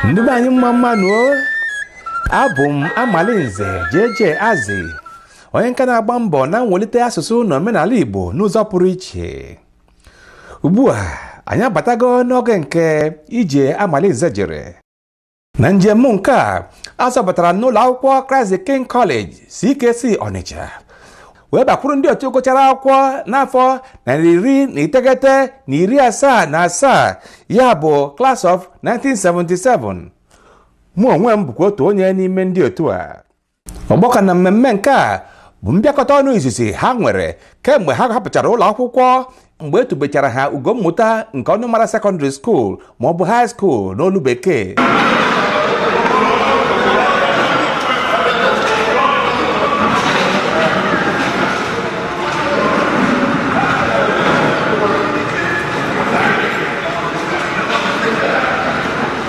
ndị be anyị mma mma nụ o abụ m amalinze jeje azị onye nka na-agba mbọ na mwelite asụsụ na omenala igbo n'ụzọ pụrụ iche ugbu a anyị abatago n'oge nke ije amalinze jere na njem nke a a zọbatara n'ụlọ akwụkwọ Christ the King College CKC Ọnịcha wee bakwuru ndị otu gụchara akwụkwọ n'afọ narị iri na iteghete na iri asaa na asaa ya bụ class of 1977 mụ onwe m bụkwa otu onye n'ime ndị otu a ọgbakọ na mmemme nke a bụ mbịakọta ọnụ izizi ha nwere kemgbe ha hapụchara ụlọ akwụkwọ mgbe e tubechara ha ugo mmụta nke ọnụmara secondary school ma ọ bụ high school n'olu bekee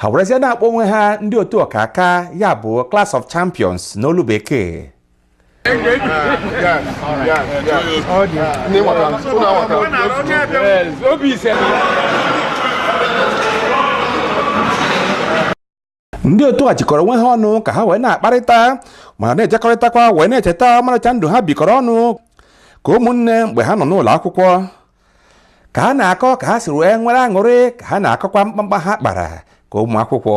ha werezie na-akpọ onwe ha ndị otu ọkaka ya bụ Class of Champions n'olu bekee ndị otu a jikọrọ onwe ha ọnụ ka ha wee na-akparịta ma na-ejekọrịtakwa wee na-echeta ọmarịcha ndụ ha bikọrọ ọnụ ka ụmụnne mgbe ha nọ n'ụlọ akwụkwọ ka ha na-akọ ka ha si wee nwere aṅụrị ka ha na-akọkwa mkpamkpa ha kpara ka ụmụ akwụkwọ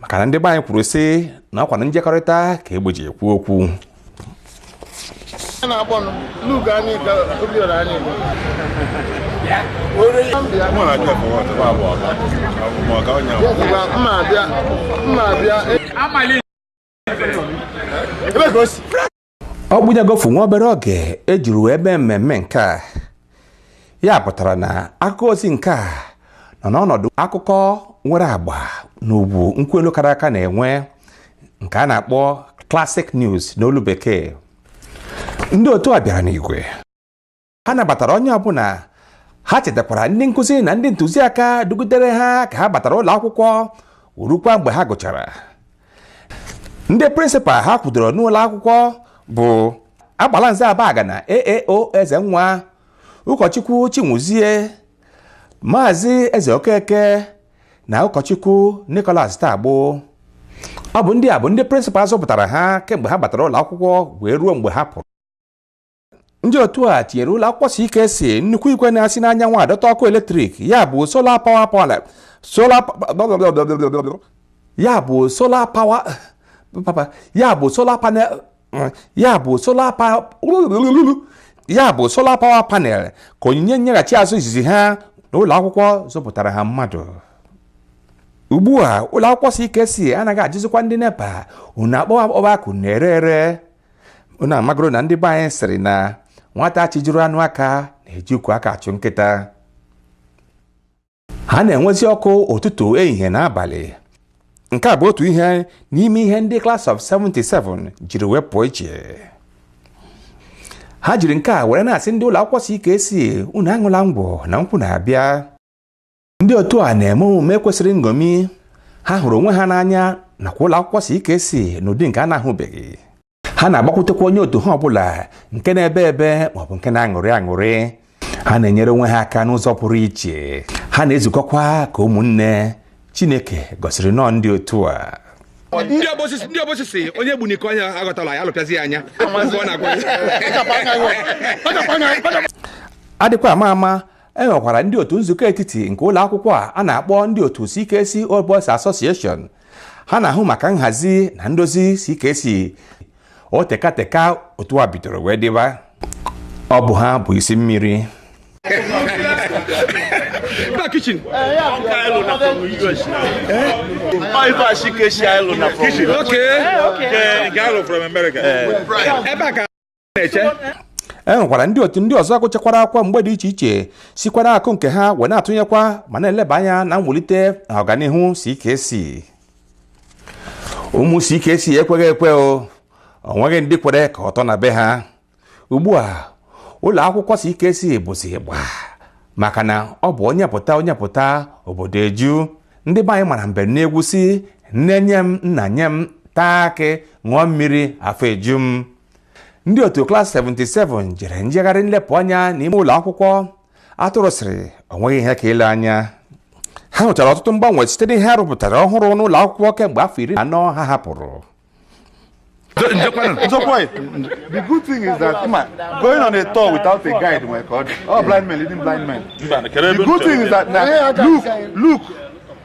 maka na ndị be anyị kwuru sị na ọkwa na njekọrịta ka egbe ji ekwu okwu o gbunyegofu nwa obere oge e jiri wee mee mmemme nke a ya pụtara na akụkọ ozi nke a nọ n'ọnọdụ akụkọ nwere agba na ugwu nkwụ elu kara aka na-enwe nke a na-akpọ classic news n'olu bekee ndị otu a bịara n'igwe ha nabatara onye ọbụla ha chetakwara ndị nkụzi na ndị ntụziaka dugidere ha ka ha batara ụlọ akwụkwọ rukwa mgbe ha gụchara ndị prịnsịpal ha kwudoro n'ụlọ akwụkwọ bụ agbalanze abagana aao ezenwa ụkọchukwu chiwuzie maazị ezeokeke na ụkọchukwu nicholas tagbo ọ bụ ndị a bụ ndị prịnsịpal zụpụtara ha kemgbe ha batara ụlọ akwụkwọ wee ruo mgbe ha pụrụ ndị otu a tinyere ụlọ akwụkwọ si ike si nnukwu igwe na-asị n'anyanwụ adọta ọkụ eletrik ya bụ sola pawa pọla sola ya bụ sola pawa papa ya bụ sola panel ya bụ sola pa ya bụ sola pawa panel ka onyinye nyeghachi azụ izizi ha n'ụlọ akwụkwọ zụpụtara ha mmadụ ugbu a ụlọ akwụkwọ si ike si anaghị ajụzikwa ndị nepa unu akpọwa akpọwa akụ na-ere ere unu amagoro na ndị be anyị sịrị na nwata chijuru anụ aka na-eji ukwu aka achụ nkịta ha na-enwezi ọkụ ụtụtụ ehihie na abalị nke a bụ otu ihe n'ime ihe ndị Class of 77 jiri wee pụọ iche ha jiri nke a were na-asị ndị ụlọ akwụkwọ CKC unu aṅụla ngwọ na nkwụ na-abịa ndị otu a na-eme omume kwesịrị nṅomi ha hụrụ onwe ha n'anya nakwa ụlọ akwụkwọ CKC n'ụdị nke a na-ahụbeghị ha na-agbakwutekwa onye otu ha ọbụla nke na-ebe ebe maọbụ nke na-aṅụrị aṅụrị ha na-enyere onwe ha aka n'ụzọ pụrụ iche ha na-ezukọkwa ka ụmụnne Chineke gọziri nnọọ ndị otu a ndị Obosi sị onye bụ n'iko anya aghọtala ya alụpịazi ya anya ọ na-agwa adịkwa ama ama e nwekwara ndị otu nzukọ etiti nke ụlọ akwụkwọ a a na-akpọ ndị otu CKC Old Boys Association ha na-ahụ maka nhazi na ndozi CKC o teka teka otu a bidoro wee dịba ọ bụ ha bụ isi mmiri na kitchen. Okay. Okay. Gallo from America. Ebe a ka na-eche e nwekwara ndị otu ndị ọzọ gụchakwara akwụkwọ mgbe dị iche iche sikwara akụ nke ha wee na-atụnyekwa ma na-eleba anya na mwulite na ọganihu CKC ụmụ CKC ekweghị ekwe o nweghị ndị kwere ka ọ tọ na be ha ugbu a ụlọ akwụkwọ CKC bụzi igba maka na ọ bụ onye pụta onye pụta obodo eju ndị be anyị mara mbem n'egwu sị nne nye m nna nye m taa akị ṅụọ mmiri afọ eju m ndị otu klas 77 jere njegharị nlepụ anya n'ime ụlọ akwụkwọ atụrụ sịrị o nweghị ihe ka ile anya ha hụchara ọtụtụ mgbanwe site n'ihe a rụpụtara ọhụrụ n'ụlọ akwụkwọ kemgbe afọ iri na anọ ha hapụrụ Nzokwa, the good thing is that Ima, going on a tour without a guide nwere ka ọ dị. All blind men leading blind men. The good thing is that na look, look,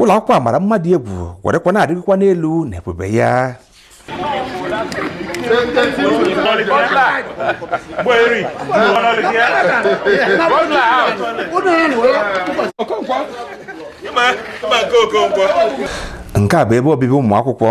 ụlọ akwụkwọ a mara mma dị egwu werekwa na-arịgokwa n'elu na ebube ya nke a bụ ebe obibi ụmụ akwụkwọ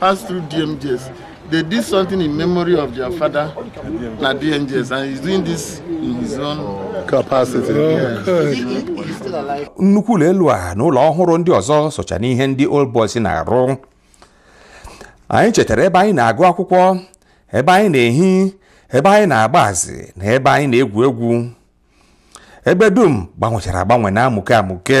pass through DMGS. They did something in memory of their father, na DMGS, and he's doing this in his own capacity. nnukwu ụlọ elu a na ụlọ ọhụrụ ndị ọzọ socha n'ihe ndị old boys na-arụ anyị chetara ebe anyị na-agụ akwụkwọ ebe anyị na-ehi ebe anyị na-agba azị na ebe anyị na-egwu egwu ebe dum gbanwechara agbanwe na-amụke amụke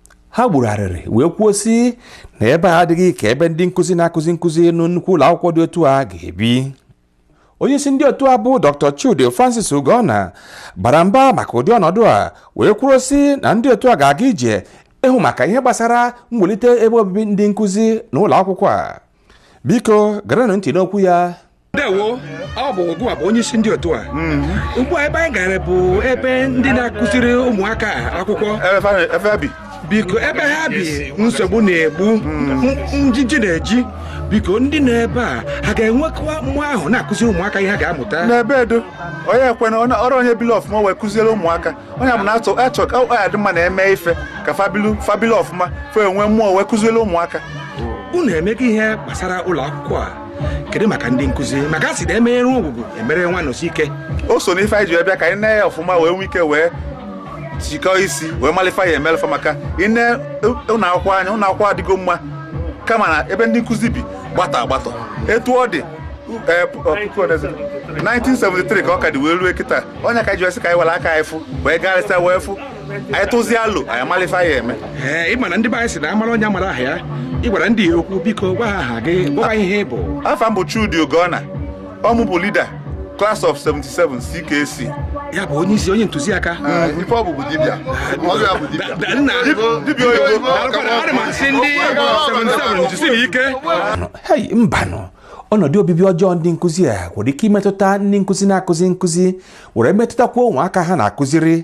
ha gburu arịrị wee kwuo sị na ebe a adịghị ka ebe ndị nkụzi na-akụzi nkụzi na nnukwu ụlọ akwụkwọ dị otu a ga-ebi onye isi ndị otu a bụ dr chude francis ugonna bara mba maka ụdị ọnọdụ a wee kwuo sị na ndị otu a ga-aga ije ịhụ maka ihe gbasara mwelite ebe obibi ndị nkụzi na ụlọ akwụkwọ a biko gerenụ ntị n'okwu ya ndewo ọ bụ gịwa bụ onye isi ndị otu a mm-hmm. ugbu a ebe anyị gara bụ ebe ndị na-akụziri ụmụaka akwụkwọ biko ebe ha bi nsogbu na-egbu mm-hmm. njiji na-eji biko ndị nọ ebe a ha ga-enwekwa mmụọ ahụ na-akụziri ụmụaka ihe ha ga-amụta n'ebe edo onye ekwena ọrụ onye bili ọfụma wee kụziere ụmụaka onye bụ na atụ achọ ka ọ ya dị mma na-eme ife ka fa bilu fa bilu ọfụma fa enwee mmụọ wee kụziere ụmụaka unu emego ihe gbasara ụlọ akwụkwọ a kedu maka ndị nkụzi maka a sị na emeghere ngwugwu emere nwa nọsi ike o so n'ife anyị ji wee bịa ka anyị nee ya ọfụma wee nwee ike wee jikọọ isi wee malụ ife a ya-emelụ fa maka i nee ụlọ akwụkwọ anya ụlọ akwụkwọ adịgo mma kama na ebe ndị nkụzi bi gbata agbata etu ọ dị eh, pu- eh, puku odezi- 1973 ka ọ ka dị wee rue kịta ọ ya ka e ji wee sị ka anyị were aka anyị fụ wee garịsịa wee fụ anyị tụzie alo anyị amalụ ife anyị ya-eme ee ị ma na ndị be anyị sị na a mara onye a mara aha ya ị gwara ndị ya okwu biko gwa ha aha gị gwa ha ihe ị bụ afa m bụ Chudi Ugonna ọ mụ bụ leader class of 77 CKC ya bụ onye isi onye ntụziaka ife ọ bụ bụ dibịa ọbịa bụ dibịa Da- nna dibịa oyibo Daalụkwanụ, ana m asị ndị 77 jisiri ike hei mbanụ ọnọdụ obibi ọjọọ ndị nkụzi a nwere ike imetụta ndị nkụzi na-akụzi nkụzi were metụtakwuo ụmụaka ha na-akụziri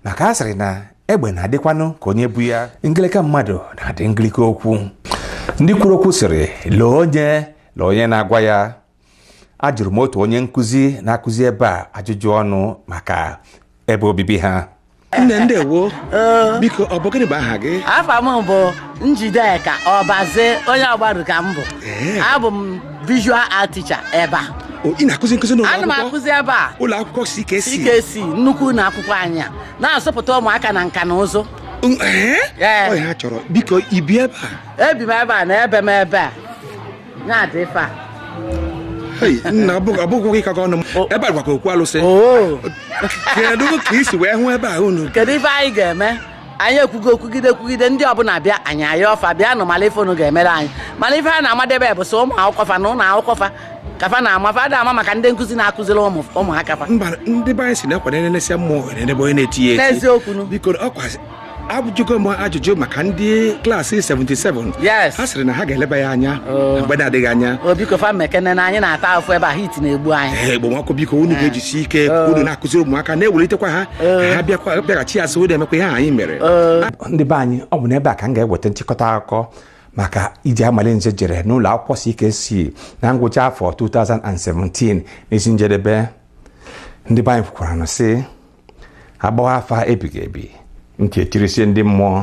maka a sịrị na egbe na-adịkwanụ ka onye bu ya ngịlịka mmadụ na-adị ngịlịka okwu ndị kwuru okwu sịrị lee onye lee onye na-agwa ya ajụrụ m otu onye nkụzi na-akụzi ebe a ajụjụ ọnụ maka ebe obibi ha nne ndewo biko ọ bụ gịnị bụ aha gị afa m bụ njideka ọbaze onye ọgbaru ka m bụ abụ m visual art teacher ebe a O, ị na-akụzi nkụzi n'ụlọ ana m akwụkwọ akụzi ebe a ụlọ akwụkwọ CKC CKC nnukwu ụlọ akwụkwọ anyị a na-azụpụta ụmụaka na nka na ụzụ Mm, ee? Ee. Ọ ya ha chọrọ biko i bi ebe a ebi m ebe a na ebi m ebe a ya dị ife a Hei, nna abụghị gị kakọ ọnụ m O. ebe a gwakwa okwu alụsị oo kedu ka i si wee hụ ebe a unu kedu ife anyị ga-eme anyị ekwugo kwugide kwugide ndị ọbụla bịa anyị ayọọ fa bịa nụ mala ife unu ga-emere anyị mana ife a na-amadebe bụ sọ ụmụ akwụkwọ fa na ụlọ akwụkwọ fa ka fa na-ama fa ada ama maka ndị nkụzi na-akụziri ụmụ ụmụaka fa mba ndị be anyị sị na-ekwa na-elesịa mmụọ ohere n'ebe onye na-eti ya eti n'eziokwu nụ biko ọ kwa ajụjụgo m ajụjụ maka ndị klaasị 77 yes ha sịrị na ha ga-eleba ya anya Oh. na mgbe na-adịghị anya o biko fa mekene na anyị na-ata afụ ebe a heat na-egbu anyị ekpomọkụ biko unu ga-ejisi ike ka unu na-akụziri ụmụaka na-ewelitekwa ha ha bịakwa bịaghachi azụ unu emekwa ihe anyị mere ndị be anyị ọ bụ n'ebe a ka m ga-eweta nchịkọta akụkọ maka ije Amalinze jere n'ụlọ akwụkwọ CKC na ngwụcha afọ 2017 n'isi njedebe ndị be anyị kwukwara nụ sị a gbawa afa ebighị ebi ntị echirisie ndị mmụọ